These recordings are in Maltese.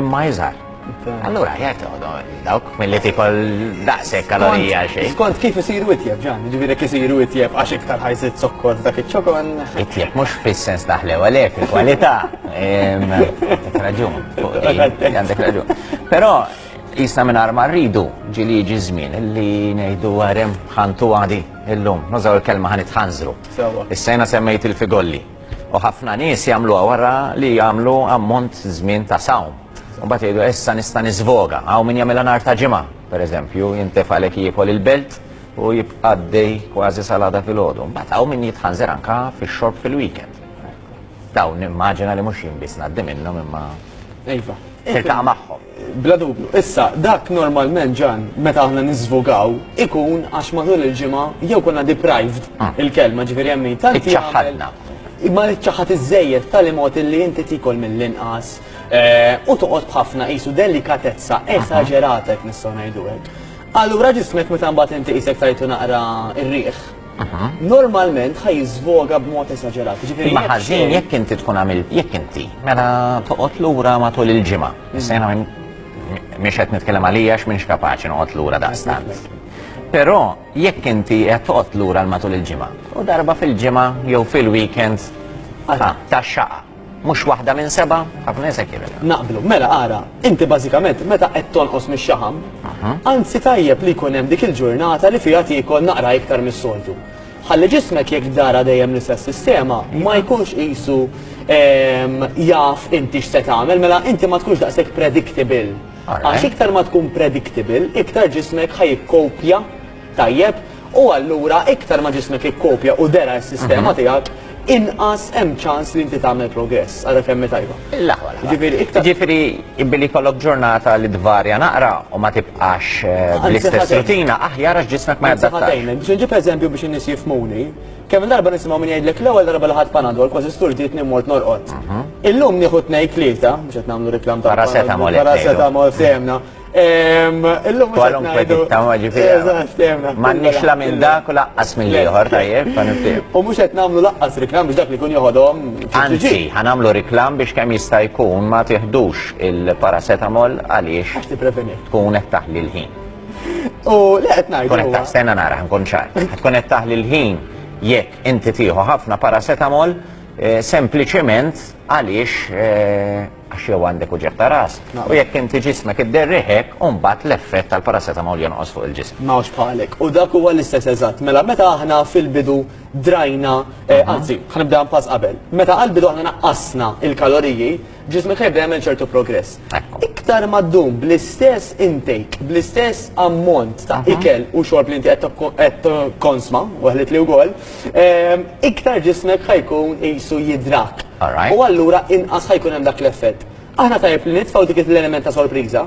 Imma jizar. Allura, jgħet dawk mill-li tikol daqsek kalorija xej. Skont kif isiru itjeb ġan, ġiviri kif isiru itjeb għax iktar ħajsit zokkor dak iċ-ċokon. Itjeb mux fil-sens daħle għalek, il-kwalità. Raġun, għandek raġun. Pero, jisna minn arma rridu ġili ġi zmin li nejdu għarem ħantu għadi il-lum. Nużaw il-kelma ħanit ħanżru. Is-sena semmejt il-figolli. U ħafna nies jagħmluha wara li jagħmlu ammont żmien ta' sawm. U mbagħad jgħidu issa nista' nisvoga. Hawn min jagħmilha nhar ta' ġimgħa, pereżempju, jintef għalhekk jiekol il-belt u jibqa' għaddej kważi sal-għada filgħodu. Mbagħad hawn min jitħanżer anke fix-xorb fil-weekend. Dawn nimmaġina li mhux jien biss ngħaddi minnhom imma. Iva. Tiltaqa' magħhom. Bla dubju. Issa, dak normalment, Ġan, meta aħna niżvogaw, ikun għax matul il-ġimgħa jew konna deprived il-kelma, ġifieri hemm min tant Iċċaħħadna. Ma iċċaħħad iżżejjed b'tali mod illi inti tiekol mill-inqas u toqgħod b'ħafna qisu delikatezza esaġerata jekk nistgħu ngħidu hekk. Allura ġismek meta mbagħad inti qisek tajtu naqra r-riħ, normalment ħaj jiżvoga b'mod esaġerat. Ġifieri ma ħażin jekk inti tkun għamil jekk inti mela toqgħod lura matul il-ġimgħa. Mm. Issa jiena mhix qed nitkellem għalija għax m'iniex kapaċi noqgħod lura daqstant. Però jekk inti qed toqgħod lura matul il-ġimgħa u darba fil-ġimgħa jew fil-weekend ta' xaqa. Mhux waħda minn sebgħa, ħafna Eżekjel. Naqblu. Mela ara, inti bażikament meta qed tonqos mix-xaħam, anzi tajjeb li jkun hemm dik il-ġurnata li fiha tiekol naqra iktar mis-soltu. Ħalli ġismek jekk dara dejjem l-istess sistema ma jkunx qisu jaf inti x'se tagħmel, mela inti ma tkunx daqshekk predictable. Għax iktar ma tkun predictable, iktar ġismek ħa jikkopja tajjeb u allura iktar ma ġismek ikkopja u dera s-sistema tiegħek inqas hemm ċans li inti tagħmel progress għara kemm tajba. L-aħwa. Ġifieri iktar. Ġifieri billi jkollok ġurnata li tvarja naqra u ma tibqax eh, bl-istess rutina aħjar għax ġismek ma jadattax. Biex nġib eżempju biex in-nies jifmuni, kemm darba nisimgħu min jgħidlek l-ewwel darba li ħadd panadol kważi sturdit nimmort norqod. Mhm. Illum nieħu tnejn tlieta, biex qed nagħmlu reklam ta' paracetamol. Paracetamol semna. Illum Kwalunkwe tittama ġifieri. M'għandniex la minn dak u laqqas minn ieħor tajjeb ta' nifhem. U mhux qed nagħmlu laqqas riklam biex dak li jkun joħodhom. Anzi, ħanamlu riklam biex kemm jista' jkun ma tiħdux il-paracetamol għaliex. Għax tippreveni. Tkun qed taħli l-ħin. U li qed ngħidu. Tkun qed taħstenna nara ħankun ċar. Tkun qed taħli l-ħin jekk inti tieħu ħafna paracetamol sempliċement għaliex għax jew għandek uġigħ ta' ras, u jekk inti ġismek idderrih hekk, u mbagħad l-effett tal-paracetamol jonqos fuq il-ġisem. Ma hawnx bħalek. U dak huwa l-istess eżatt. Mela, meta aħna fil-bidu drajna, anzi, ħa nibdeha pass qabel. Meta għall-bidu aħna naqqasna l-kaloriji, ġismek ħa jibda jagħmel ċertu progress. Iktar ma ddum bl-istess intake, bl-istess ammont ta' ikel u xorb li inti qed tikkonsma, weħlet li wkoll, iktar ġismek ħa jkun qisu jidrak. U allura inqas ħa jkun hemm dak l-effett. Aħna tajjeb li nitfgħu dik l-element ta' sorpriża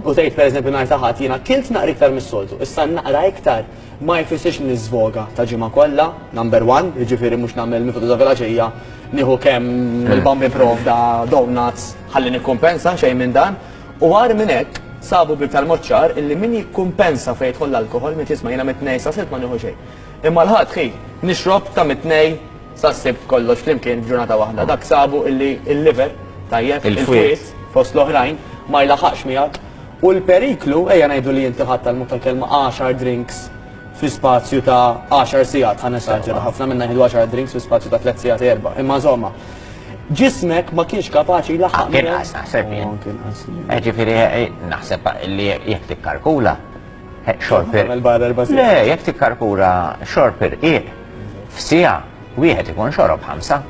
u tgħid pereżempju nhar ta' Ħadd jiena kilt naqra iktar mis-soltu, issa naqra iktar ma jfissirx li niżvoga ta' ġimgħa kollha, number one, jiġifieri mhux nagħmel mifud ta' filgħaxija nieħu kemm il-bamb jipprovda donuts ħalli nikkumpensa, xejn minn dan. U agħar minn hekk, sabu b'iktar mod ċar illi min jikkumpensa fejn jidħol l-alkoħol mitt jisma' jiena mitt ngħix sa sitt ma nieħu xejn. Imma l-Ħadd hi, nixrob ta' mit-Tnejn sas-Sibt kollox flimkien f'ġurnata waħda. Dak sabu illi l-liver, tajjeb, il-fwied, fost l-oħrajn, ma jlaħħaqx miegħek. U l-periklu, ejja ngħidu li inti ħadt għall-mod tal-kelma għaxar drinks fi spazju ta' għaxar sigħat, ħa nesaġera, ħafna minna jieħdu għaxar drinks fi spazju ta' tliet sigħat, erba', imma insomma, ġismek ma kienx kapaċi jlaħħaq miegħek. Anke inqas, naħseb jien. Jiġifieri naħseb li jekk tikkalkula, Xorper. Le, jekk tikkarkura xorper iq f'sija wieħed ikun xorob ħamsa.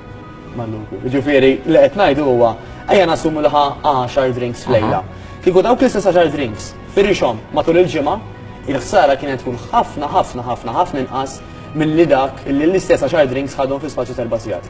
Ġifieri li qed ngħidu huwa ejja nassumu li ħa 10 drinks f'lejla. Kieku dawk l-istess 10 drinks firixhom matul il-ġimgħa, il-ħsara kienet tkun ħafna ħafna ħafna ħafna inqas milli dak li l-istess 10 drinks ħadhom fi spazju terba' sigħat.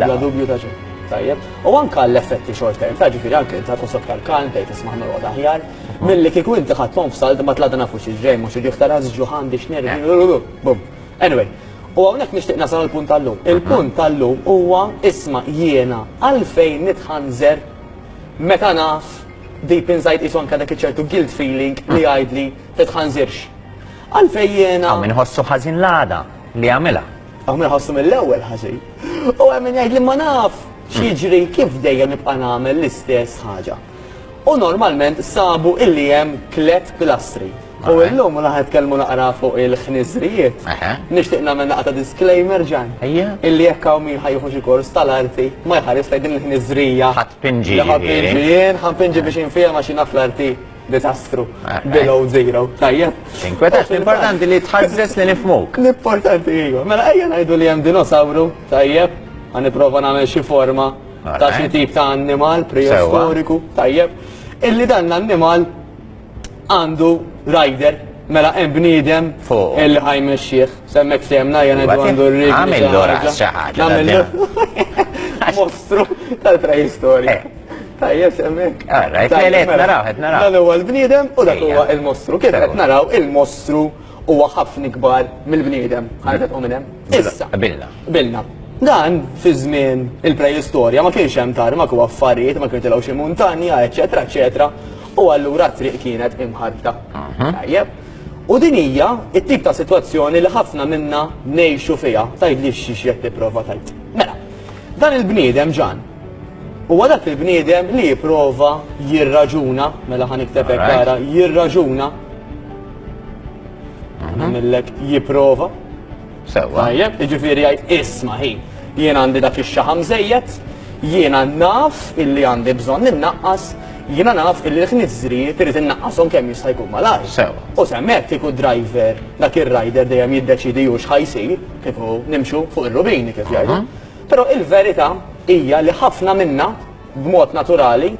La dubju ta' xejn. Tajjeb. U anka l-effetti short term, ta' ġifiri anke ta' kusok tal-kalm, bdejt isma' norqod aħjar, milli kieku inti ħadthom f'salt ma tlada nafu xi ġej mhux ġieħ tara ġuħan biex nervi. Bum. Anyway, u hawnhekk nixtieq nasal il-punt tal-lum. Il-punt tal-lum huwa isma' jiena għalfejn nitħanżer meta naf deep inside qisu anke dak iċ-ċertu guilt feeling li jgħidli titħanżirx. Għalfejn jiena. Hawn min iħossu ħażin l-għada li għamilha. Aħna nħossu mill-ewwel ħażin. U hemm jgħid li ma naf x'jiġri kif dejjem nibqa' nagħmel l-istess ħaġa. U normalment sabu illi hemm tliet pilastri. U illum u naħed kelmu naqra fuq il-ħniżrijiet. Nixtieq nagħmel naqta disclaimer ġan. Illi jekk hawn min ħajħu xi kors tal-arti ma jħares lejn din il-ħniżrija. Ħadd pinġi. Ħadd pinġi, ħadd pinġi biex infiehem għax naf l-arti. Disastru. Eh, eh. Below zero. Tajjeb. Inkwetat, l-importanti li tħazzes li nifmuk. L-importanti iju. Mela ejja ngħidu li hemm dinosawru, tajjeb, għan niprofa nagħmel xi forma ta' xi tip ta' annimal preistoriku, tajjeb. Illi dan l-annimal għandu rider Mela hemm bniedem fuq il ħajme xieħ, semmek semna jena għandu r-rik. Għamil l-ora xaħat. Mostru tal-preistorja. Eh. Tajjeb semmek. Ara, qed mela, mela. naraw, qed naraw. Dan huwa l-bniedem u dak huwa il-mostru. Kif qed naraw il-mostru huwa ħafna ikbar mill-bniedem. Ħarġet u minn hemm. Issa. Bilna. Bilna. Dan fi żmien il-preistorja ma kienx hemm tarmak u affarijiet ma kienu tilgħu xi muntanja, eċetera, eċetera. U allura t-triq kienet imħarbta. Mhm. Tajjeb. U din hija t-tip ta' sitwazzjoni li ħafna minna ngħixu fiha. Tgħidli x'xi qed tipprova tgħid. Mela, dan il-bniedem ġan Huwa dak il-bniedem li jipprova jirraġuna, mela ħa nikteb hekk ara, jirraġuna. Nagħmillek mhm. jipprova. Sewwa. Tajjeb, jiġifieri jgħid isma' ħin. Jien għandi dak ix-xaħam żejjed, jiena naf illi għandi bżonn innaqqas, jiena naf illi l-ħniżrijiet irid innaqqashom kemm jista' jkun malajr. Sewwa. U semmek kieku driver dak ir-rider dejjem jiddeċidi hux ħajsir, kieku nimxu fuq ir-rubini kif jgħidu. Mhm. Però il-verità hija li ħafna minna, b'mod naturali,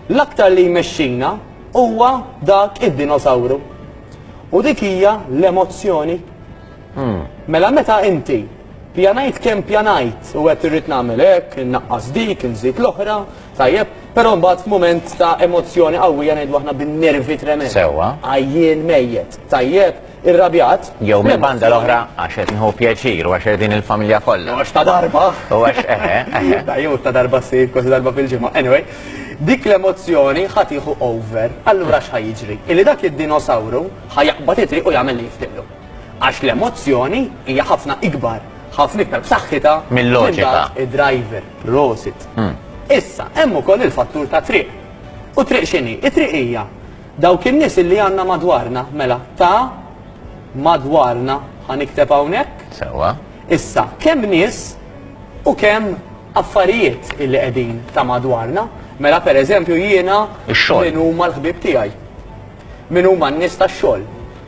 l-aktar li jmexxina huwa dak id-dinosawru. U dik hija l-emozzjoni. Mela meta inti, pjanajt kemm pjanajt u għedt irrid nagħmel hekk, innaqqas dik, inżid l-oħra, Tajjeb, però mbagħad f'mument ta' emozzjoni qawwija ngħidu aħna bin-nervi tremend. Sewwa. Għajjien mejjet, tajjeb, irrabjat. Jew mill-banda l-oħra għax qed nieħu pjaċir u għax qegħdin il-familja kollha. Għax ta' darba. U għax eħe, eħe. Ta' jew ta' darba ssir kważi darba fil-ġimgħa. Anyway, dik l-emozzjoni ħa tieħu over. Allura x'ħa jiġri? Illi dak id-dinosawru ħa jaqbad itri u jagħmel li jiftiqlu. Għax l-emozzjoni hija ħafna ikbar, ħafna iktar b'saħħitha mill-loġika. Id-driver, prosit. Hmm. Issa, hemm ukoll il-fattur ta' triq. U triq x'inhi? It-triq hija dawk in-nies li għandna madwarna, mela, ta' madwarna ħanikteb hawnhekk. Sewa. Issa, kemm nies u kemm affarijiet illi qegħdin ta' madwarna, mela pereżempju jiena minn huma l-ħbib tiegħi. Min huma n-nies tax-xogħol?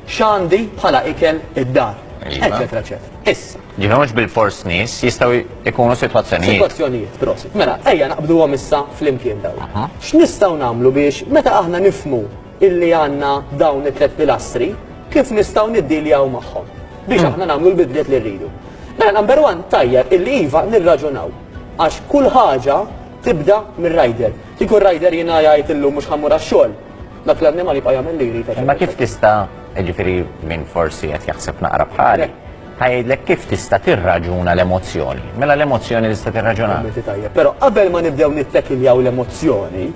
X'għandi bħala ikel id-dar? Eċetera, eċetera. Issa. Ġifieri mhux bilfors nies, jistgħu jkunu sitwazzjonijiet. Sitwazzjonijiet, prosit. Mela, ejja naqbduhom issa flimkien dawn. X'nistgħu nagħmlu biex meta aħna nifhmu illi għandna dawn it-tliet pilastri, kif nistgħu niddiljaw magħhom biex aħna nagħmlu l-bidliet li rridu? Mela, number one, tajjeb illi iva nirraġunaw għax kull ħaġa tibda mir-rider. Kieku r-rider jiena jgħid illum mhux ħa mmur għax-xogħol, Dak l-annimal jibqa' jagħmel li jrid. Imma kif tista' jiġifieri min forsi qed jaħseb naqra bħali, ħajidlek kif tista' tirraġuna l-emozzjoni. Mela l-emozzjoni tista' tirraġuna. Però qabel ma nibdew nittekiljaw l-emozzjoni,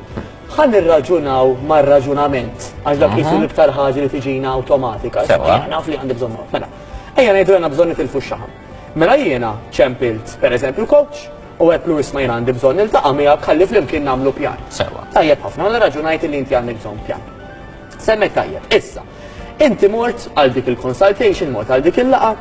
ħa nirraġunaw mar-raġunament għax dak qisu l-iktar ħaġa li tiġina awtomatika. Sewwa. Naf li għandi bżonn. Mela, ejja ngħidu għandna bżonn nitilfu x-xaħam. Mela jiena ċempilt pereżempju coach U għedtlu isma' jien għandi bżonn niltaqa' miegħek ħalli flimkien nagħmlu pjan. Sewwa. Tajjeb ħafna, mela raġunajt illi inti għandek bżonn pjan. Semmejt tajjeb. Issa, inti mort għal dik il-consultation, mort għal dik il-laqgħa,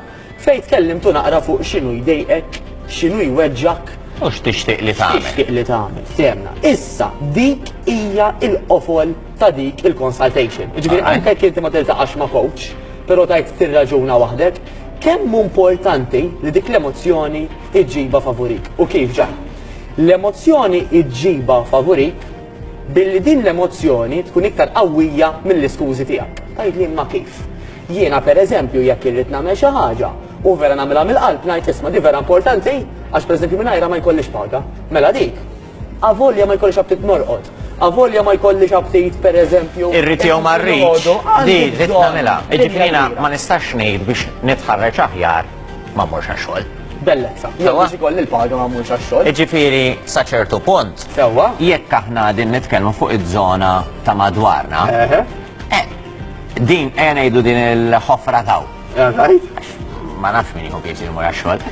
fejn tkellimtu naqra fuq x'inhu jdejqek, x'inhu jweġġgħek, U x'tixtieq li tagħmel. x'tixtieq li tagħmel, ftehemna. Issa, dik hija l-qofol ta' dik il-consultation. Jiġifieri Alright. anke jekk inti ma tiltaqax ma' coach, però tgħid tirraġuna waħdek, kemm hu importanti li dik l-emozzjoni iġġibha favurik. U kif ġa? L-emozzjoni iġġibha favurik billi din l-emozzjoni tkun iktar qawwija mill-iskużi tiegħek. Tajt li ma kif. Jiena per eżempju jekk irrid nagħmel xi ħaġa u vera nagħmilha mill-qalb ngħid isma' di vera importanti għax per eżempju mingħajra ma jkollix paga. Mela dik Avolja ma jkollix aptit norqod. Avolja ma jkollix aptit per eżempju. Irrid jew ma rridx. Di li tagħmilha. Ġifieri ma nistax ngħid biex nitħarreġ aħjar ma mmurx għax-xogħol. Bellezza. Jew biex ikolli l-paga ma mmurx għax-xogħol. Ġifieri sa ċertu punt. Sewwa. Jekk aħna qegħdin nitkellmu fuq iż-żona ta' madwarna. Eħe. Din ejja ngħidu din il-ħofra taw. All right. Ma nafx min jieħu pjaċir imur għax-xogħol.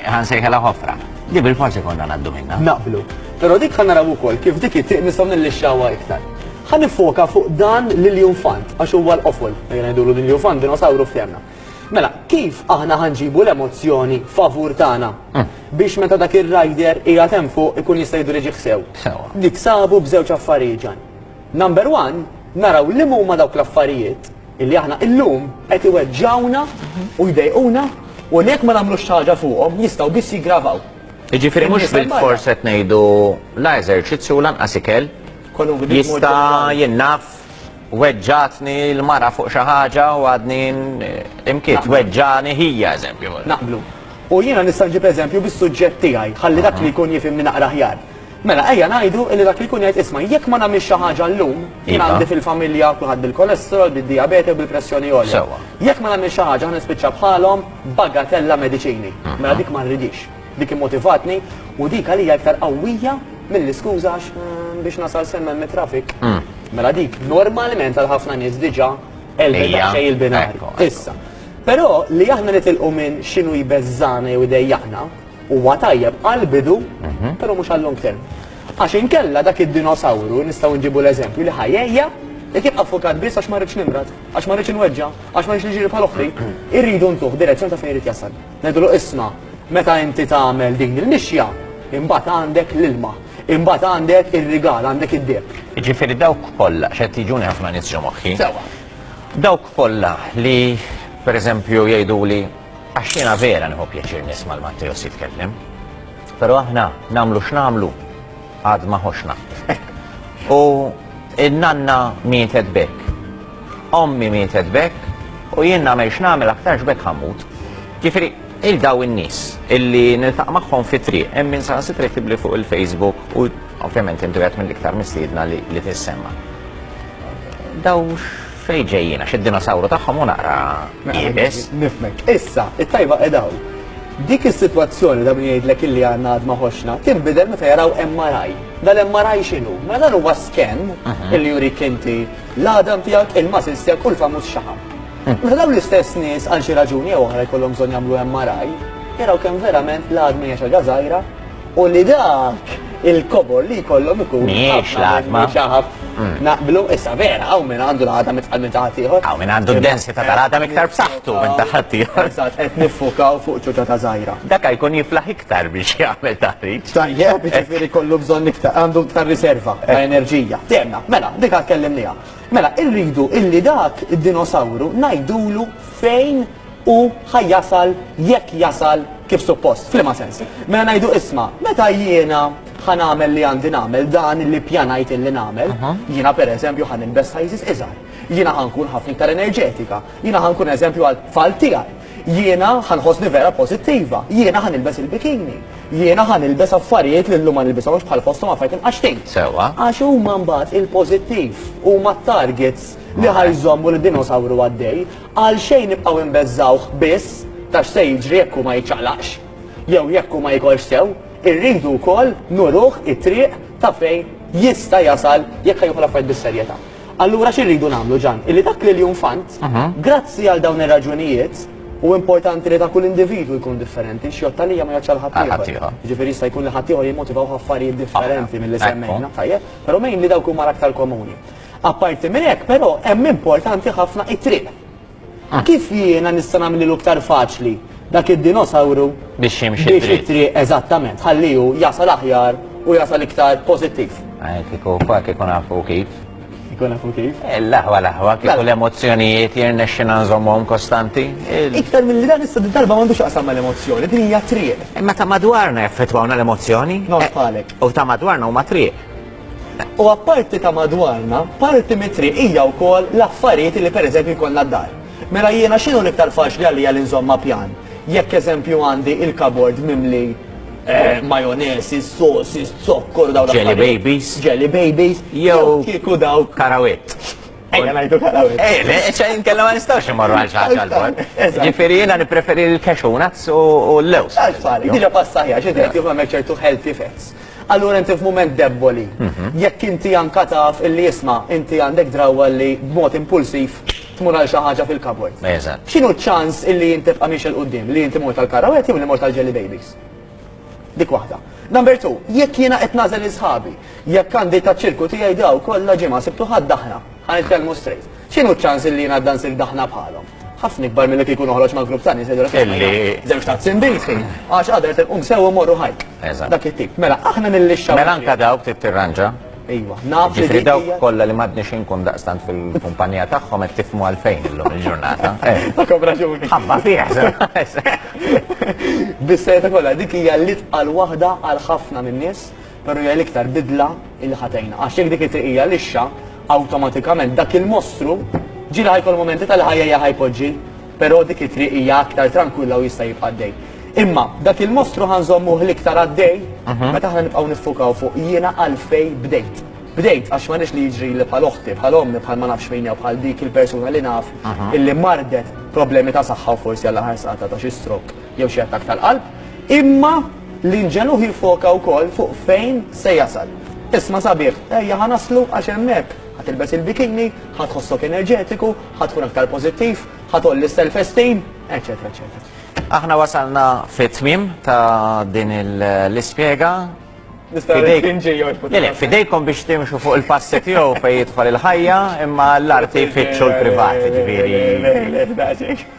Ħansejħilha ħofra. Li bil-fors ikollna ngħaddu minnha. Naqblu. Però dik ħa naraw ukoll kif dik it-tieq nistgħu nillixxawha iktar. Ħa niffoka fuq dan l-iljunfant għax huwa l-qofol, ejja ngħidulu l-iljunfant, dinosawru f'tehmna. Mela, kif aħna ħa nġibu l-emozzjoni favur tagħna biex meta dak ir-rider qiegħed hemm fuq ikun jista' jiddiriġih sew? Sewwa. Niksabu b'żewġ affarijiet ġan. Number one, naraw liema huma dawk l-affarijiet illi aħna illum qed iweġġgħuna u jdejquna u li jekk ma nagħmlux xi ħaġa fuqhom jistgħu biss jiggravaw. Jiġifieri mhux bil-fors qed ngħidu la eżerċizzju lanqas ikel jista' jinnaf weġġatni l-mara fuq xi ħaġa u għadni imkiet weġġani ħija eżempju. Naqblu. U jiena nista' nġib eżempju bis-suġġett tiegħi ħalli dak li jkun jifhimni naqra ħjar. Mela, ejja ngħidu li dak li jkun jgħid 'isma', jekk ma nagħmilx xi ħaġa llum, jien għandi fil-familja kulħadd bil-kolesterol, bid-dijabete u bil-pressjoni għolja. Jekk ma nagħmilx xi ħaġa ħa nispiċċa bħalhom b'bagatella mediċini. Mela dik ma rridhiex. Dik immotivatni u dik għalija iktar qawwija mill-iskuża għax biex nasal s'hemm hemm it-traffic. Mela dik normalment għal ħafna nies diġà għelbet daqsxejn il-binari. Issa, però li aħna nitilqu minn x'inhu jbeżżagħna jew idejjaqna, Huwa tajjeb għall-bidu, però mhux għal-long term. Għax inkella dak id-dinosawru nistgħu nġibu l-eżempju li ħajejja jekk jibqa' ffukat biss għax ma rridx nimrad, għax ma rridx inweġġa, għax ma rridx niġri bħal oħti. Irridu ntuh direzzjoni ta' fejn irid jasal. Ngħidulu isma' meta inti tagħmel din il-mixja, imbagħad għandek l-ilma, imbagħad għandek ir-rigal, għandek id-deheb. Jiġifieri dawk kollha, għax qed jiġuni ħafna nies ġo moħħi. Sewwa. Dawk kollha li pereżempju jgħiduli Għax jiena vera nieħu pjaċir nisma' 'l Matteos jitkellem. Però aħna nagħmlu x'nagħmlu għad ma ħoxx nagħmlu. U n-nanna mietet b'hekk. Ommi mietet b'hekk u jien nagħmel x'nagħmel aktarx b'hekk ħammut. Ġifieri il daw in-nies illi niltaq magħhom fit-triq hemm min saħansitra jtibli fuq il-Facebook u ovvjament intu qed mill-iktar mistiedna li tissemma. Dawx Fejn ġejjin għax id-dinosawru tagħhom hu naqra iebes. Nifhmek. Issa, it-tajba qiegħda hawn. Dik is-sitwazzjoni ta' min jgħidlek illi għandna għad ma ħoxna, tinbidel meta jaraw MRI. Dal-MRI x'inhu? Mela dan huwa scan illi jurik inti l-għadam tiegħek, il-muscles tiegħek u l-famuż xaħam. Meta dawn l-istess nies għal xi raġuni jew oħra jkollhom bżonn jagħmlu MRI, jaraw kemm verament l-għadma hija xi ħaġa żgħira, u li dak il-kobor li jkollhom ikun. Mhijiex l-għatma. Mm. Naqblu, issa vera, għaw minn għandu l-għata mitqal minn taħat ieħor. Għaw minn għandu d-densità tal-għata miktar b'saħħtu minn taħat ieħor. Qed nifukaw fuq ċuċa ta' żgħira. Dak jkun jiflaħ iktar biex jagħmel taħriġ. Tajjeb, jiġifieri kollu bżonn iktar, għandu iktar riserva ta' eh. enerġija. Temna, mela, dik għad kellimniha. Mela, irridu illi dak id-dinosawru ngħidulu fejn u ħa jasal jekk jasal kif suppost. F'liema sens? Mela ngħidu isma', meta jiena ħa nagħmel li għandi nagħmel, dan li ppjanajt illi nagħmel, jiena pereżempju ħa nilbes sizes iżgħar, jiena ħa nkun ħafna iktar enerġetika, jiena ħa nkun eżempju għat-tfal tiegħi, jiena ħa nħossni vera pożittiva, jiena ħa nilbes il-bikini, jiena ħa nilbes affarijiet li llum ma nilbishomx bħal fosthom affarijiet imqaxxtin. Sewwa. Għax huma mbagħad il-pożittiv, huma t-targets li ħa jżommu lid-dinosawru għaddej. Għalxejn nibqgħu inbeżżgħuh biss ta' x'se jiġri jekk hu ma jiċċaqlaqx? Jew jekk hu ma jikolx sew, irridu wkoll nuruh it-triq ta' fejn jista' jasal jekk ħa jieħu l-affarijiet bis-serjetà. Allura xi rridu nagħmlu Ġan? Illi dak l-iljun fant, grazzi għal dawn ir-raġunijiet, u importanti li ta' kull individwu jkun differenti, x'jgħodd għalija ma jgħoddx għal ħaddieħor. Jiġifieri jista' jkun li ħaddieħor jimmotivawh affarijiet differenti milli semmejna, tajjeb, però mgħin li dawk huma l-aktar komuni. Apparti minn hekk, però, hemm importanti ħafna it-triq. Kif jiena nista' nagħmlilu iktar faċli dak id-dinosawru Biex jimxi biex dritt. it-triq eżattament, ħalli hu jasal aħjar u jasal iktar pożittiv. Eh, Kieku fa kieku nafu kif. Ikun nafu kif. Eh, L-aħwa l-aħwa kieku Mela. l-emozzjonijiet jirnexxina nżommhom kostanti. Il- Iktar milli dan issa din darba m'għandux x'jaqsam mal-emozzjoni, din hija triq. Imma ta' madwarna jaffettwawna l-emozzjoni. Nod Eh, bħalek. U ta' madwarna huma triq. U apparti ta' madwarna, parti mit-triq hija wkoll l-affarijiet li pereżempju jkollna d-dar. Mela jiena x'inhu l-iktar faċli għalija li nżomm ma' pjan? Jekk eżempju għandi il-kabord mimli majonese, sauces, zokkor u dawn l-affarijiet. Jelly babies. Jelly babies. Jew kieku dawk. Karawit. Ejja ngħidu karawit. Ejja, le, ċe inkella ma nistgħux immorru għal xi ħaġa l-bogħod. Ġifieri jiena nippreferi l-cashew nuts u l-lewż. Għall-tfal, diġà passajja, xi tgħid, jekk m'hemmx ċertu healthy fats. Allura inti f'mument debboli. Jekk inti anka taf illi isma' inti għandek drawwa li b'mod impulsiv tmur għal xi ħaġa fil-cupboard. Eżatt. X'inhu ċ-ċans illi int tibqa' miexi 'l quddiem, li inti mort għall-karrawett jew li mort għall-jelly babies? Dik waħda. Number two, jekk jiena qed nagħżel 'il sħabi, jekk għandi taċ-ċirku tiegħi daw kollha ġimgħa Sibt u Ħadd aħna. Ħa nitkellmu straight. X'inhu ċ-ċans li jien għadda nsir daħna bħalhom? Ħafna ikbar milli kieku noħroġ ma' grupp ta' nies li jgħidulek sema' jien għandi żewġ tazzi nbid, għax għada irid inqum sewwa u mmorru hike. Eżatt. Dak it-tip. Mela aħna nillixxaw. Mela anke dawk trid tirranġa. Ejwa, naf li Ġifieri dik dawk hija. kollha li m'għadniex inkun daqstant fil-kumpanija tagħhom qed tifhmu għalfejn illum il-ġurnata. Eh, Għandkom raġuni. Ħabba fih, se. Bis-sejta kollha, dik hija l-itqal waħda għal ħafna min-nies Però hija l-iktar bidla li ħa tgħinna. Għax jekk dik it-triq hija lixxa, awtomatikament dak il-mostru ġieli ħa jkollu mumenti tal-ħajja hija ħa jpoġġi, però dik it-triq hija aktar trankwilla u jista' jibqa' għaddej. Imma dak il-mostru ħa nżommuh l-iktar għaddej meta aħna nibqgħu niffukaw fuq jiena għalfejn bdejt. Bdejt għax ma rridx li jiġrili bħal oħti, bħal ommi, bħal ma nafx min jew bħal dik il-persuna li naf illi mardet problemi ta' saħħa u forsi għall-aħħar saqatha ta' xi stroke jew xi attakk tal-qalb. Imma. L-inġenu jiffoka wkoll fuq fejn se jasal. Isma' sabiħ, ejja ħa naslu għax hemmhekk, ħa tilbes il-bikini, ħa tħossok enerġetiku, ħa tkun aktar pożittiv, ħa tgħolli s-self-esteem, eċċetera eċċetera. Aħna wasalna fit-tmiem ta' din l-ispjega. Nista' ngħid kien ġej jorbot. Le, le, f'idejkom biex timxu fuq il-passi tiegħu fejn jidħol il-ħajja, imma l-arti jfittxu l-privati, ġifieri. Le, le, le, daqsxejn.